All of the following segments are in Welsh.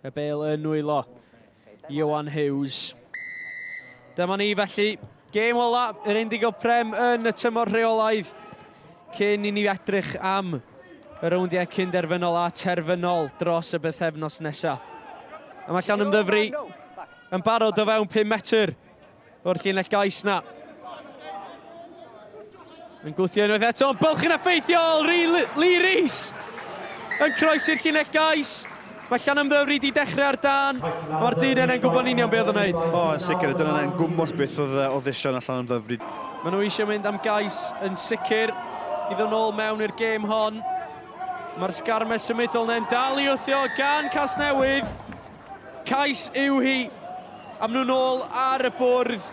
Y bel yn nwylo. Iwan Hughes. Dyma ni felly. Gêm ola yr Indigo Prem yn y tymor rheolaidd cyn i ni edrych am y rowndiau cynderfynol a terfynol dros y bythefnos nesaf. A mae Llan Ymddyfri yn barod o fewn 5 metr o'r llinell gais na. Yn gwthio unwaith eto, yn bylch yn effeithiol, Lee Rees yn croesi'r llinell gais. Mae Llan Ymddyfri wedi dechrau ar dan, mae'r dyn yna'n gwybod union beth o'n wneud. O, yn sicr, y dyn yna'n gwmwys beth oedd o ddision allan am ddyfri. Mae nhw eisiau mynd am gais yn sicr i ddod nôl mewn i'r gêm hon. Mae'r sgarmes symudol neu'n dal i wthio gan Casnewydd. Cais yw hi. Am nhw'n ôl ar y bwrdd.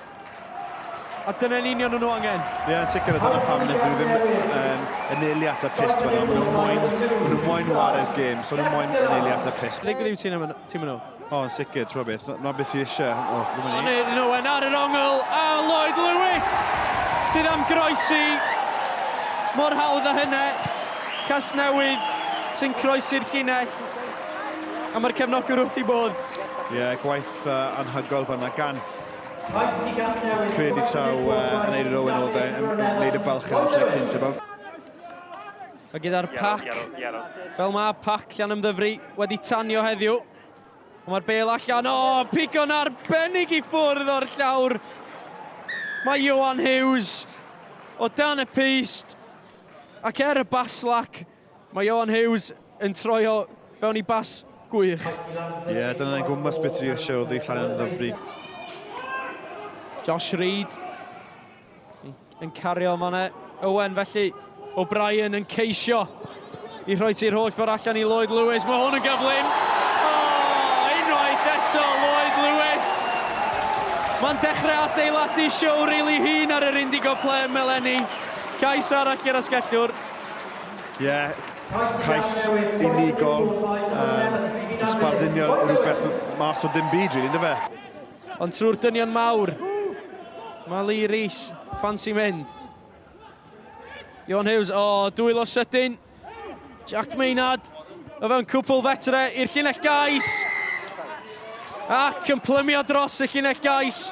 A dyna'n union nhw'n angen. Ie, yeah, sicr a dyna pam nid nhw ddim um, yn eili at y test fanna. Maen nhw'n moyn, maen nhw'n moyn wared gêm, so nhw'n moyn yn eili at y test. Ddigwydd yw ti'n mynd nhw? O, yn sicr, ti'n rhywbeth. Dyna beth sy'n eisiau. O, ddim yn ei. Yn Owen ar yr ongl, a Lloyd Lewis sydd am groesi. Mor hawdd a hynna. Casnewydd sy'n croesi'r llinell. A mae'r cefnogwr wrth ei bodd. Ie, yeah, gwaith uh, anhygoel fanna gan Credu taw uh, yn Eilir Owen oedd e'n gwneud y balch yn y lle cynt efo. A gyda'r pac, fel mae pac llan ymddyfru wedi tanio heddiw. Mae'r bel allan, o, oh, pigo'n arbennig i ffwrdd o'r llawr. Mae Johan Hughes o dan y peist ac er y baslac, Mae Ioan Huws yn troi o fewn i bas gwych. Ie, yeah, dyna ei gwmpas beth dwi eisiau oddi llan yn ddyfri. Josh Reid yn cario mane. Owen felly, O'Brien yn ceisio i rhoi ti'r holl ffordd allan i Lloyd Lewis. Mae hwn yn gyflym. Oh, unwaith eto Lloyd Lewis. Mae'n dechrau adeiladu siwr ei li hun ar yr Indigo Plem eleni. Cais arall gyda sgellwr. Ie, yeah, cais unigol, um, yn sbardunio rhywbeth mas o ddim byd, rili, ynddo fe? Ond trwy'r dynion mawr, mae Lee Rees, ffansi mynd. Ion Hughes, o, oh, dwylo sydyn. Jack Maynard, o fewn cwpl fetre i'r llinell gais. Ac yn plymio dros y llinell gais.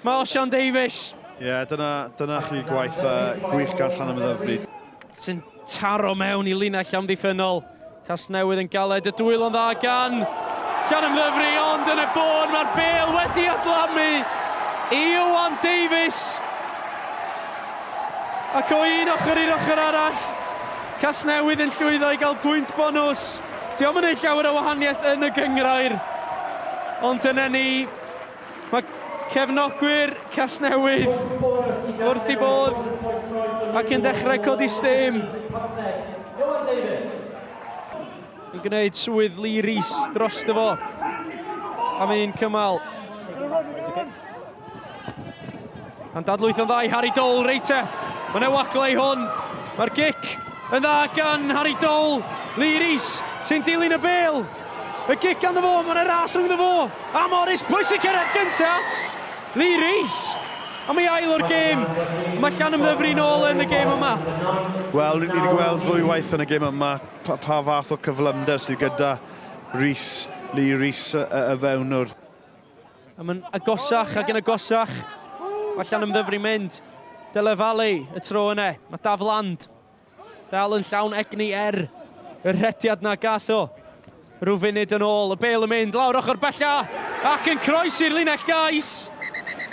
Marsion Davies. Ie, yeah, dyna, dyna chi gwaith uh, gwych gan Llanam Ddyfri. Sy'n taro mewn i linell amddiffynol. Casnewydd yn galed y dwylo dda gan Llanam Ddyfri, ond yn y bôn mae'r bel wedi adlamu i Iwan Davies. Ac o un ochr i'r ochr arall, Casnewydd yn llwyddo i gael pwynt bonus. Dio'm yn neud llawer o wahaniaeth yn y gynghrair, ond dyna ni. Mae cefnogwyr Casnewydd wrth i bodd ac yn dechrau codi stêm. Yn gwneud swydd Lee Rees dros dy fo. Am un cymal. Mae'n dadlwytho'n dda i Harry Dole, Reiter. Mae'n ewaglau i hwn. Mae'r gic yn dda gan Harry Dole. Lee Rees sy'n dilyn y bel. Y gic gan fo, mae'n ras rhwng fo. A Morris, pwysig cyrraedd gynta. Lee Rees. A mae ail o'r gêm. Mae Llan ymddyfru'n ôl yn y gêm yma. Wel, ni wedi gweld ddwy waith yn y gêm yma pa, pa fath o cyflymder sydd gyda Rees, Lee Rees y, y fewnwr. A mae'n agosach ac yn agosach. Allan am ddyfru mynd. Dele Valley y tro yna. Mae Daf Land dal yn llawn egni er y rhediad na gall o. Rhyw funud yn ôl, y bel yn mynd lawr ochr bella ac yn croesi'r linell gais.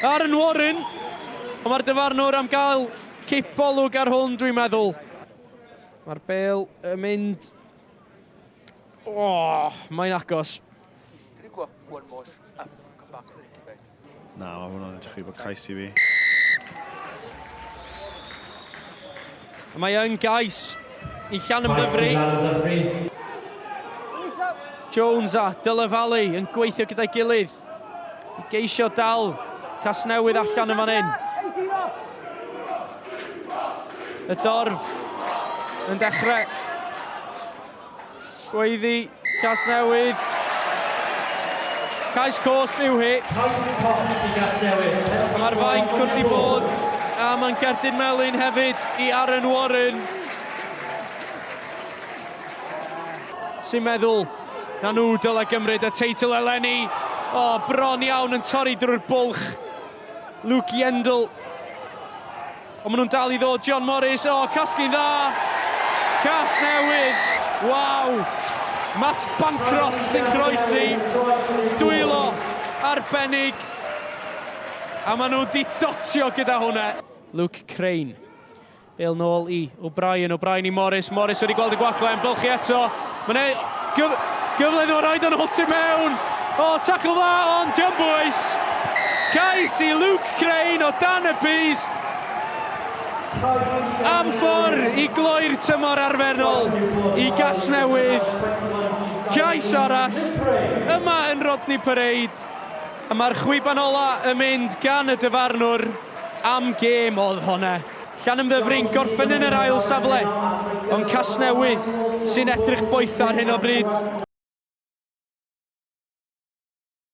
Aaron Warren, ond mae'r dyfarnwr am gael cip bolwg ar hwn, dwi'n meddwl. Mae'r bel yn mynd... O, oh, mae'n agos. Can you go up one more up, come back a little bit? Na, mae hwnna'n edrych i fod cais i fi. A mae yn gais i Llan Ymddyfri. Jones a Dylan Valley yn gweithio gyda'i gilydd i geisio dal Casnewydd allan yn fan hyn. Y dorf yn dechrau Gweiddi, Casnewydd. Cais cosb yw hi. Cais cosb i Gasnewydd. Mae'r fainc wrth i bod a mae'n gerdyn melyn hefyd i Aaron Warren. Sy'n meddwl na nhw dylai gymryd y teitl eleni. O, oh, bron iawn yn torri drwy'r bwlch. Luke Yendall Ond maen nhw'n dal i ddod, John Morris, o, casglu'n dda! Casnewydd! Waw! Matt Bancroft sy'n croesi, dwylo arbennig, a maen nhw wedi dotio gyda hwnna. Luke Crane. Bale nôl i O'Brien, O'Brien i Morris, Morris wedi gweld y gwagle yn bylchu eto. Mae'n ei gyf gyfle nhw rhaid yn hwt i mewn. O, oh, tacl dda ond diom bwys. Cais i Luke Crane o dan y bust. Am ffordd i gloi'r tymor arfernol i Gasnewydd. Cais arall yma yn Rodney Parade. A mae'r chwiban ola yn mynd gan y dyfarnwr am gêm oedd honna. Llanymddyfryn gorffen yn yr ail safle, ond Casnewydd sy'n edrych boeth ar hyn o bryd.